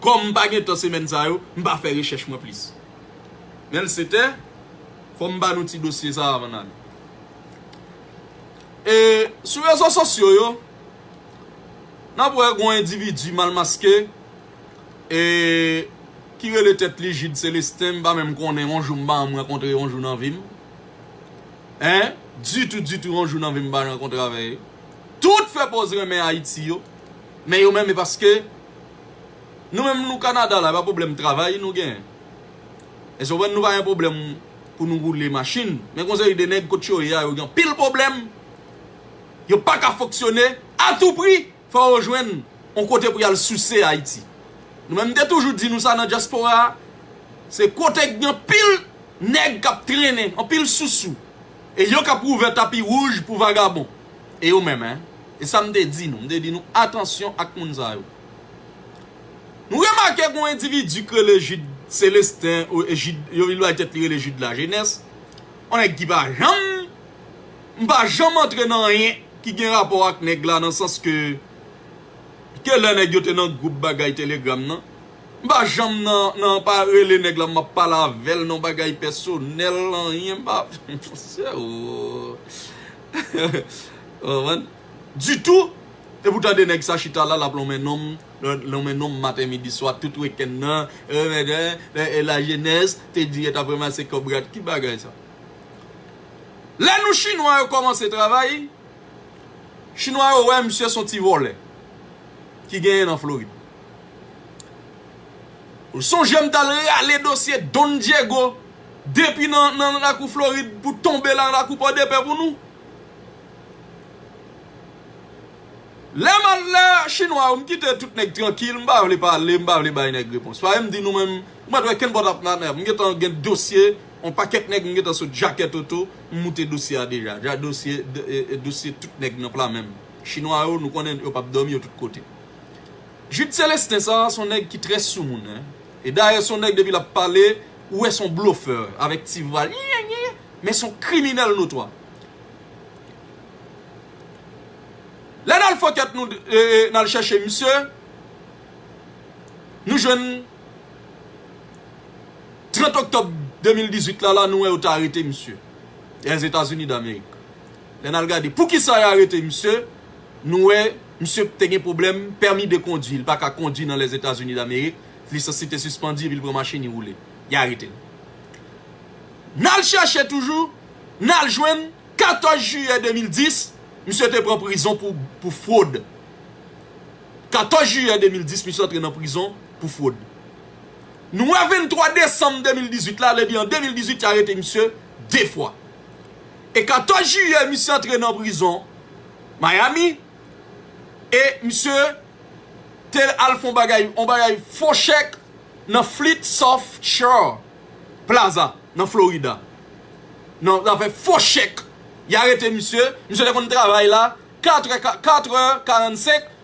Kòm m pa gen tan semèn sa yo, m pa fè rechèch mwen plis. Men l se te, fò m ba nou ti dosye sa avan n ale. E, sou rezo sosyo yo, n ap wè gen yon endividi mal maske, e, ki rele tèt li Jude Celestin, m pa menm konnen, yon jou m pa janm rankontre yon jou nan vi m. Hein, ditou ditou yon jou nan vi m m pa janm rankontre avè. Tout fè pòz renmen Ayiti yo. Men yo menm e paske Nou menm nou Canada la epa problem travay nou gen Eske ou konprann nou pa gen problem pou nou roule machin men gon seri de nèg kot yo ye a yo gen anpil problem yo paka fonksyone a tou pri fò yo jwenn on kote pou yal souse Haïti nou menm te toujou di nou sa nan diaspora se kote gen anpil nèg kap trennen anpil sousou. E yo kap wouvè tapi wouj pou vagabon. E yo menm hein. E sa m te di nou. M te di nou atansyon ak moun sa yo. Nou remake gon endividi k rele Jude Celestin ou Jude yo li bay tèt li rele Jude la jeunesse. On nèg ki pa janm m pa janm antre nan anyen ki gen rapò ak nèg la nan sans ke ke lè nèg yo te nan gwoup bagay telegram nan. M pa janm nan nan pa rele nèg la map pale avèl non bagay pèsonèl anyen pa ditou epou tande nèg sa chita la lap lonmen nonm lonmen nonm maten midi swa tout wekenn nan la jenès te di yo tap ranmase kòb rat ki bagay sa lè nou chinwa yo kòmanse travay chinwa yo wè misye son ti vòlè ki genyen nan florid. M sonjem tal rale dosye Don Diego depi nan lakou Florid pou tonbe la lakou pòdepè pou nou. Lè m al lè chinwa yo m kite tout nèg trankil m pa vle pale m pa vle bay nèg repons paske m di nou menm ou pa t wè kenn pòt ap nanè m gentan gen dosye on pakèt nèg m gentan sot jakèt oto m moute dosye a deja dosye tout nèg nan pla menm chinwa yo nou konnen yo pap dòmi yo tout kote. Jude Celestin sa son nèg ki trè soumoun hein e dayè son nèg depi lap pale ou wè son blofè avèk ti vwal iiiiiin men son kriminèl notwa. Lè nal fokèt nou nal chèche misye nou jwenn 30 oktòb 2018 la la nou wè yo ta arete misye lè Etazini Damerik lè nal gade poukisa yo arete misye nou wè Misye te gen pwoblèm pèmi de kondwi, li pa ka kondwi nan Lèzetazini Damerik, lisans li te sispandi epi li pran machin li woule. Li arete l. N al chèche toujou, n al jwenn 14 jiyè 2010, misye te pran prizon pou fwod. 14 jiyè 2010, misye antre nan prizon pou fwod. Nou wè 23 desanm 2018 la, lè di an 2018 y arete misye 2 fwa. E 14 jiyè misye antre nan prizon. Miami e misye te al fon bagay yon bagay fo chèk nan Fleet Soft Shore Plaza nan Florida nan zafè fo chèk ya rete misye misye te konn travay la 4 è 4 è 45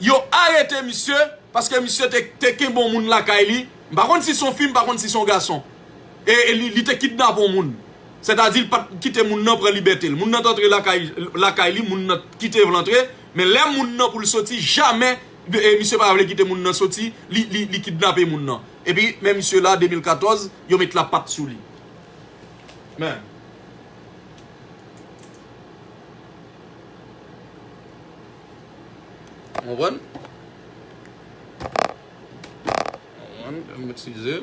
Yo arete misye paske misye te kenbe yon moun lakay li, m pa konn si son fi m pa konn si son gason e li te kidnape yon moun sètadi li pat kite moun nan pran libète l moun nan t antre lakay li moun nan kite l antre men lè moun nan pou l soti jamè misye pa vle kite moun nan soti li kidnape moun nan epi men misye la 2014 yo met la pat sou li men. Ou konprann? Ann eskize.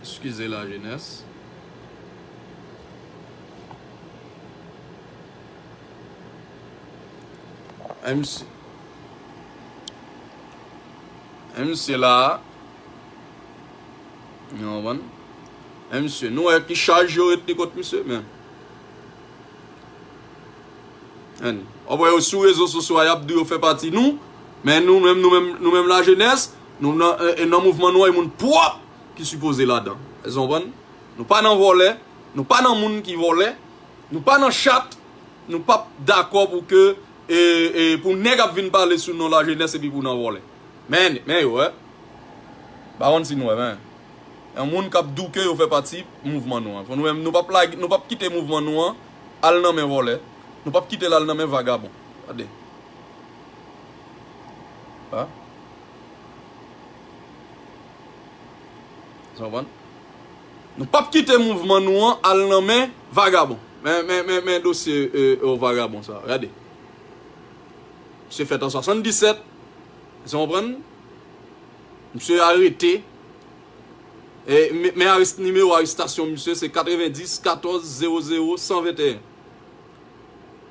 Eskize la jenès. An misye. An misye la. Ou konprann? An misye. Nou wè ki chaj yo ret li kot misye men. Anh. Wap wè yo sou rezo sosyo a yap di yo fè pati nou, men nou menm nou menm nou menm la jenès, nou nan nan mouvman nou an e moun pwòp ki sipoze ladan. Èske nou konprann? Nou pa nan vòlè, nou pa nan moun ki vòlè, nou pa nan chat, nou pap dakò pou ke e e pou nèg ap vin pale sou non la jenès epi pou nan vòlè. Men men yo wè. Bawon si nou wè men. Yon moun kap diw ke yo fè pati mouvman nou an. Pou nou menm nou pap lage, nou pap kite mouvman nou an al nan men vòlè, nou pap kitel al nan men vagabon. Gade. Ha? Sa konprann? Nou pap kite mouvman nou an al nan men vagabon. Men, men, men, men dosye e o vagabon sa. Gade. Misye fèt an 77. Sa konprann? Misye arete, men nimewo arestasyon misye se 90 14 00 121.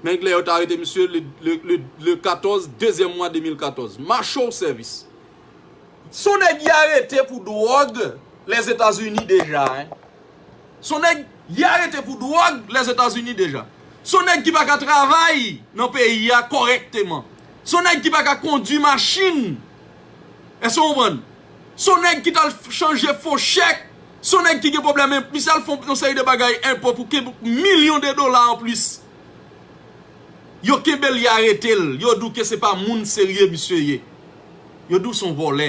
Nèg lè yo ta arete misye le 14 dezyèm mwa 2014. Mache w sèvis. Se yon nèg y arete pou dwòg Lèzetazini deja. Se yon nèg y arete pou dwòg Lèzetazini deja. Se yon nèg ki pa ka travay nan peyi a kòrèkteman. Se yon nèg ki pa ka kondi machin Èske w konprann? Se yon nèg ki t al chanje fo chèk, se yon nèg ki gen pwoblèm enp, misye al fè yon seri de bagay enpo pou kenbe milyon de dola anplis. Yo kenbe l, y arete l, yo di w ke se pa moun serye misye ye. Yo di w se yon vòlè.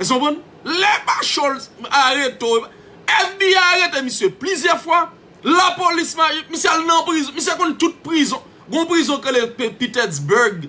Èske w konprann? Lè pa cho l, arete w. FBI arete misye plizyè fwa, lapolis, misye al nan prizon, misye konn tout prizon. Gon prizon ki rele Petersburg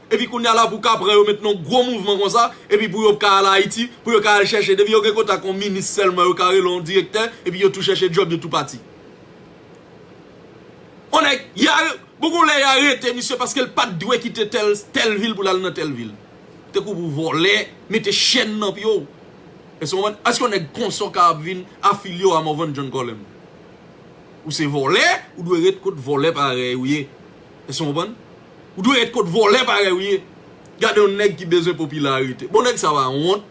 Epi kounya la pou ka pran yo met nan gwo mouvman konsa epi pou yo ka al Ayiti pou yo ka al chèche depi yo gen kontak yon minis sèlman yo ka rele yon direktè epi yo tou chèche djòb yo tou pati. Yon nèg ya bon gon lè ya rete misye paske l pat dwe kite tèl tèl vil pou l al nan tèl vil te kou pou vòlè mete chèn nan pye w èske w konprann èske yon nèg konsa w ka ap vin afilye w a Morvan John Colem ou se vòlè ou dwe ret kot vòlè parèy ou ye. Èske nou konprann? Ou dwe ret kot vòlè parèy ou ye. Gade yon nèg ki bezwen popilarite. Bon nèg sa pa wont?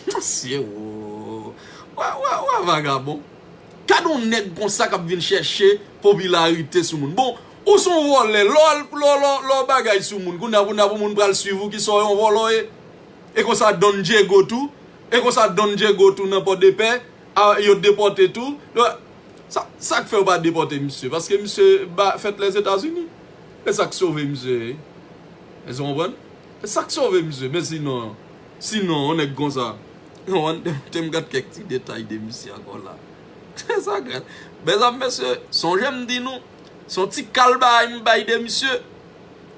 Mesye woo. Ou a vagabon. Gade yon nèg konsa k ap vin chèche popilarite sou moun. Bon, ou son vòlè. Lè w bagay sou moun, kounye a kounye a pou moun pral swiv ou ki sa w yon vòlò ye. E konsa Don Dyego tou. E konsa Don Dyego tou nan Pòdepè. Ah yo depote tou. Sak fè yo pa depote misye paske misye fèt lè zetazini esak sove misye èske ou konprann esak sove misye men sinon sinon yon nèg konsa tem gad kèk ti detay de misye ankò la esa gad mèzanm mesye sonjem di nou son ti kal bagay m bay de misye.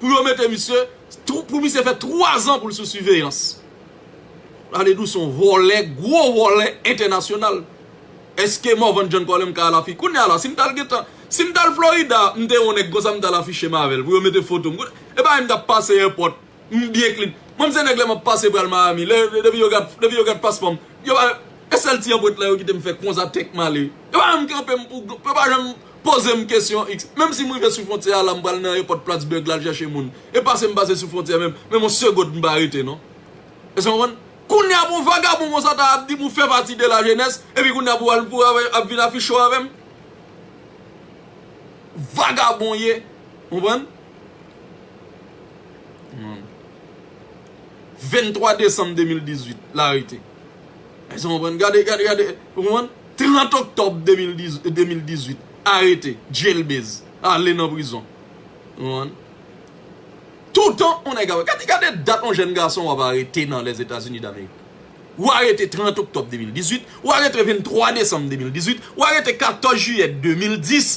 Pou yo mete misye, pou misye fè 3 zan pou l sou siveyans. Pale dous on vòlè, gwo vòlè entènasyonal. Eske Morvan John Colin m ka al afi. Kounya la, si m t al gentan, si m t al Florida, m te on nèg konsa m t al afiche m avè l pou yo mete foto m. E pa m t ap pase èpòt, m byen klin. Mwen m se nèg lè m ap pase pral Miami, lè depi yo gad, depi yo gad paspò m, yo pa, e sèl ti anpwent la yo kite m fè konsa tèk m ale. Yo pa janm kanpe m pou, yo pa janm Poze m kesyon x, menm si m rive sou fwontyè a la m pral nan èpòt Plattsburgh la al chèche moun. E pase m pase sou fwontyè menm, menm on segond m pa rete non. Èske nou konprann? Kounye a pou on vagabon konsa ta ap di m ou fè pati de la jenès, epi kounye a pou al pou ap vin afiche w avè m? Vagabon ye, ou konprann? 23 desanm 2018, l arete. Èske nou konprann? Gade, gade, gade, ou konprann? 30 oktòb 2018, arete, djelbez, ale nan prizon. Ou konprann? Toutan yon nèg ap, gade, gade dat yon jèn gason w ap arete nan Lèzetazini Damerik. Ou arete 30 oktòb 2018, ou arete 23 desanm 2018, ou arete 14 jiyè 2010,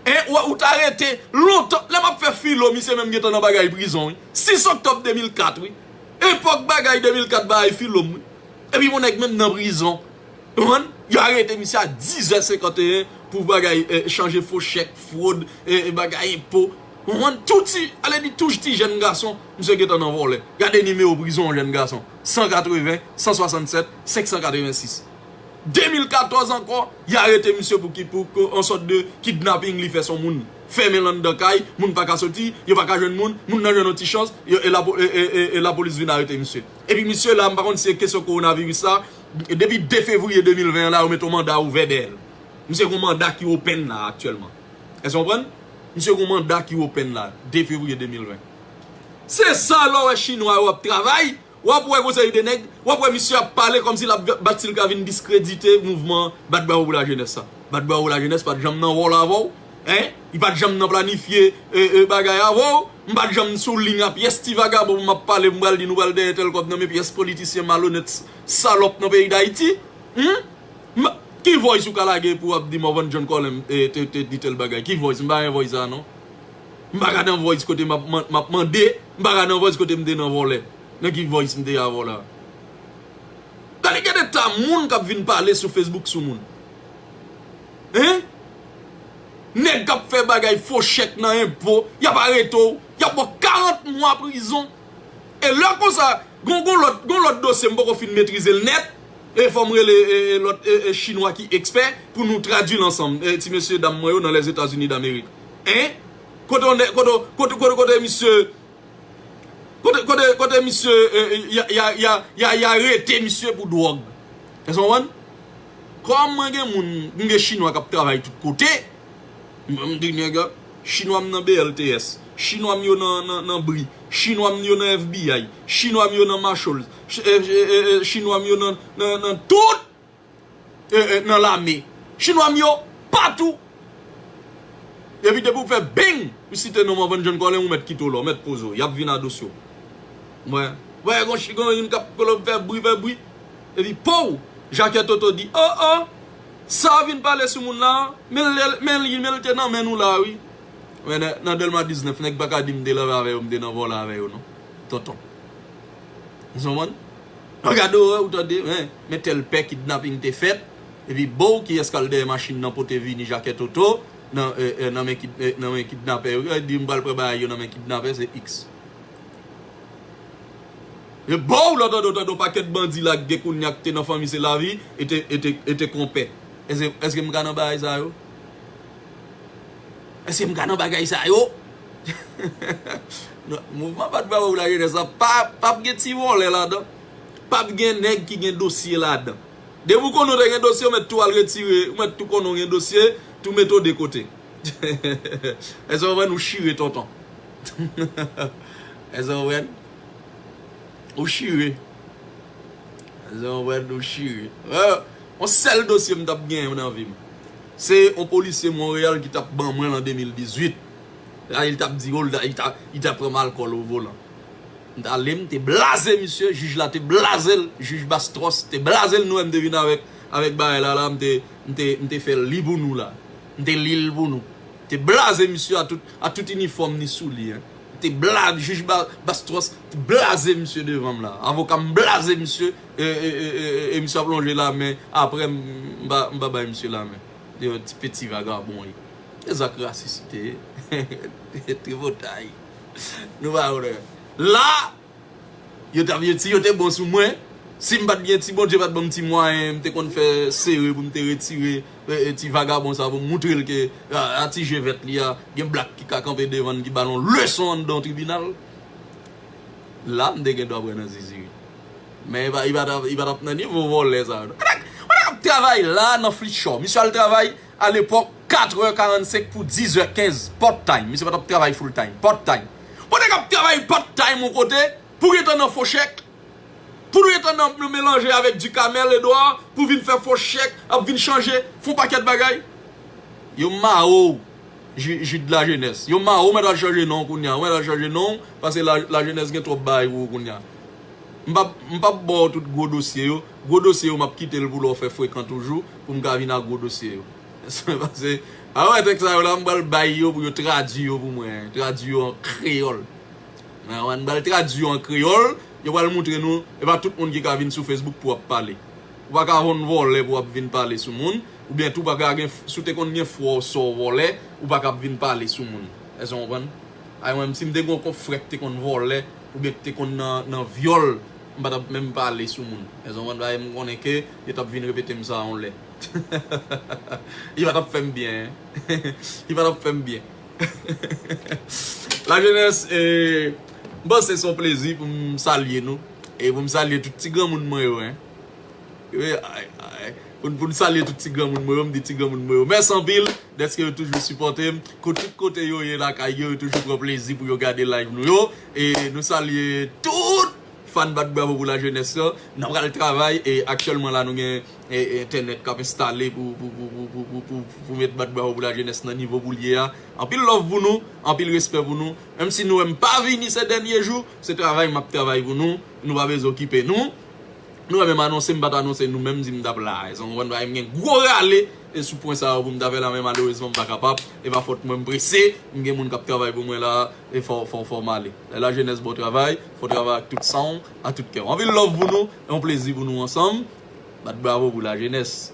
e ou te arete lontan, lè m ap fè filo misye menm gen tan nan bagay prizon wi, 6 oktòb 2004 wi. Epòk bagay 2004 bagay filo m wi epi yon nèg menm nan prizon ou konprann yo arete misye a 10 zè 51 pou bagay chanje fo chèk fwod bagay enpo ou konprann tou ti ale di touj ti jèn gason misye gentan nan vòlè gade nimewo prizon yon jèn gason 180 167 586 2014 ankò y arete misye pou ki pou yon sòt de kidnaping li fè son moun. Fèmen l anndan kay, moun pa ka soti, yo pa ka jwenn moun, moun nan jwenn yon ti chans, e lapolis vin arete misye. Epi misye la, m pa konn si se kesyon kowonaviris la, depi 2 fevriye 2020 an la, yo mete yon manda ouvè dèyè l. Misye gen yon manda ki open la aktyèlman. Èske w konprann? Misye gen yon manda ki open la, 2 fevriye 2020. Se sa lè w wè chinwa yo ap travay, W ap wè gon seri de nèg, w ap wè misye ap pale kòmsi l ap bat si l ka vin diskredite mouvman Bat Bravo Pou Lajenès sa. Bat Bravo Lajenès pa t janm nan wòl avè w, hein, li pa t janm nan planifye bagay avè w, m pa t janm sou liy a pyès ti vagabon pou m ap pale pou m pral di nou pral dèyè tèl kòb nan men pyès politisyen malonèt salòp nan peyi Dayiti, hum! M pa, ki voice ou ka lage pou w ap di Morvan John Colin te di tèl bagay? Ki voice? M pa gen voice sa a non. M pa ka nan voice kote m ap mande, m pa ka nan voice kote m te nan vole. Nan ki voice m te avw la? Gade gen eta moun k ap vin pale sou Facebook sou moun. Hein? Nèg k ap fè bagay fo chèk nan enpo, y ap arete w, y ap ba w 40 mwa prizon. E lè konsa, gon gon lòt, gon lòt dosye m poko fin metrize l nèt, e fò m rele lòt chinwa ki ekspè pou nou tradui l ansanm, ti mesye dam mwen yo nan Lèzetazini Damerik. Hein? Kote on nè, kote on, kote, kote, kote misye, kote, kote, kote misye, ya, ya, ya, ya, ya rete misye pou dwòg? Èske ou konprann? Kòm mwen gen moun, m gen chinwa k ap travay tout kote, m m di nèg yo, chinwa m nan BLTS, chinwa m yo nan, nan, nan bri, chinwa m yo nan FBI, chinwa m yo nan Marshalls, ch, ch, ch, ch, chinwa m yo nan, nan, nan tout! nan lame chinwa m yo patou epi depi ou fè bing ou site non Morvan John Colin ou mèt kite w la ou mèt poze w y ap vin adosye w m wè wè gon chi gon youn k ap kolon fè bri fè bri epi pouw Jacques Toto di o o sa w vin pale sou moun la men li men l te nan men nou la wi wè nè nan Dèlma 19 nèg pa ka di m te leve avè yo m te nan vòlè avè yo non tonton ou konprann. An gad orè ou tande hein men tèl pè kidnaping te fèt epi boo kiyès kal dèyè machin nan pote vini jakè toto nan nan men nan men kidnapè yo kiyès dim pral pran bagay yo nan men kidnapè se ix e boo lò tande ou tande yon pakèt bandi la gen kounya ki te nan fanmi se lavi ete ete ete konpè èske èske m ka nan bagay sa yo èske m ka nan bagay sa yo. Nan mouvman bat bravo la jenès la pap gen ti vòlè ladan pap gen nèg ki gen dosye ladan depi ou konnen ou te gen dosye ou mèt tou al retire ou mèt tou konnen ou gen dosye tou mete ou de kote èske ou konprann ou chire tonton èske ou konprann ou chire èske ou konprann ou chire yon sèl dosye m tap gen nan vi m se yon polisye Montréal ki tap ban mwen l an 2018 Rayi li tap di Rolda li ta pranm alkòl o volan m t ale m te blaze misye jij la te blaze l jij Bastros te blaze l nou wè m te vin avèk avèk bagay la la m te m te m te fè l li pou nou la m te li l pou nou m te blaze misye a tout a tout inifòm ni sou li m te bla jij ba Bastros te blaze misye devan m la avoka m blaze misye e e e e e e misye ap lonje lamen aprè m m pa m pa bay misye lamen ti peti vagabon e. Se zak rasis li te ye. Tripotay. Nou pa konnen. La! Yo tap ye si yo te bon sou mwen, si m pat gen si Bondye pat banm ti mwayen m te konn fè sere pou m te retire ti vagabon sa pou m moutre l ke a ti je vèt li a gen blak ki ka kanpe devan l ki ba l yon leson anndan yon tribinal. La m te gen dwa pran nan zizi wi. Men li pa tap nan nivo vòlè sa yo non. Kote kote kap travay la nan flitchò? Misye al travay? A lepòk, 4 heures 45 pou 10 heures 15, part time, misye pa t ap travay full time, part time. Bon nèg ap travay part time yon kote, pou gentan nan fo chèk, pou nou gentan nan melanje avèk Ducamel Edouard, pou vin fè fo chèk, ap vin chanje, fon pakèt bagay. Yo mare w Jude Lajeunesse, yo mare w, ou mèt al chanje non w kounya, ou mèt al chanje non w, pase Lajeunesse gen twòp bagay pou ou kounya. M p ap, m p ap ba w tout gwo dosye yo, Gwo dosye yo map kitel pou lè w fè frekan toujou pou m ka vin ak gwo dosye yo Eswen pase a wè tèks sa yo la m pral bay yo pou yo tradwi yo pou mwen tradwi yo an kreyòl a wè m pral tradwi yo an kreyòl yo pral moutre nou e pa tout moun ki ka vin sou facebook pou ap pale ou pa ka von vòlè pou ap vin pale sou moun ou byen tou pa ka gen si w te konn gen fwa w sa w vòlè ou pa ka ap vin pale sou moun Eswen w konprann a wè m si m te gen yon konfrè ki te konn vòlè. Ou gen te konn nan vyòl m pa tap menm pale sou moun Mezanmi ou konn bagay m konnen ke yo tap vin repete m sa yon lè Li pa tap fè m byen Li pa tap fè m byen La jenès e M panse se yon plezi pou m salye nou e pou m salye tout ti granmoun mwen yo. Pou n salye tout ti granmoun mwen yo, m di ti granmoun mwen yo mèsi anpil dèske yo toujou sipòte m kou tout kote yo ye lakay yo, yo toujou pran plezi pou yo gade live nou yo e nou salye tout fan bat bravo pou lajenès yo n ap pral travay e aktyèlman la nou gen entènèt k ap enstale pou met bat bravo pou lajenès nan nivo pou l ye a anpil love pou nou, anpil respè pou nou menm si nou wè m pa vini se dènye jou se travay m ap travay pou nou nou pa bezwen okipe nou. Nou wè menm anonse m pat anonse nou menm di m tap la eske nou konprann bagay m gen gwo rale e sou pwen sa yo pou m ta fè la men malerezman m pa kapab e pa fòt mwen m prese m gen moun kap travay pou mwen la e fò fò fò m ale e la jenès bon travay fò travay ak tout san w a tout kè w anpil love pou nou e yon plezi pou nou ansanm bat bravo pou la jenès.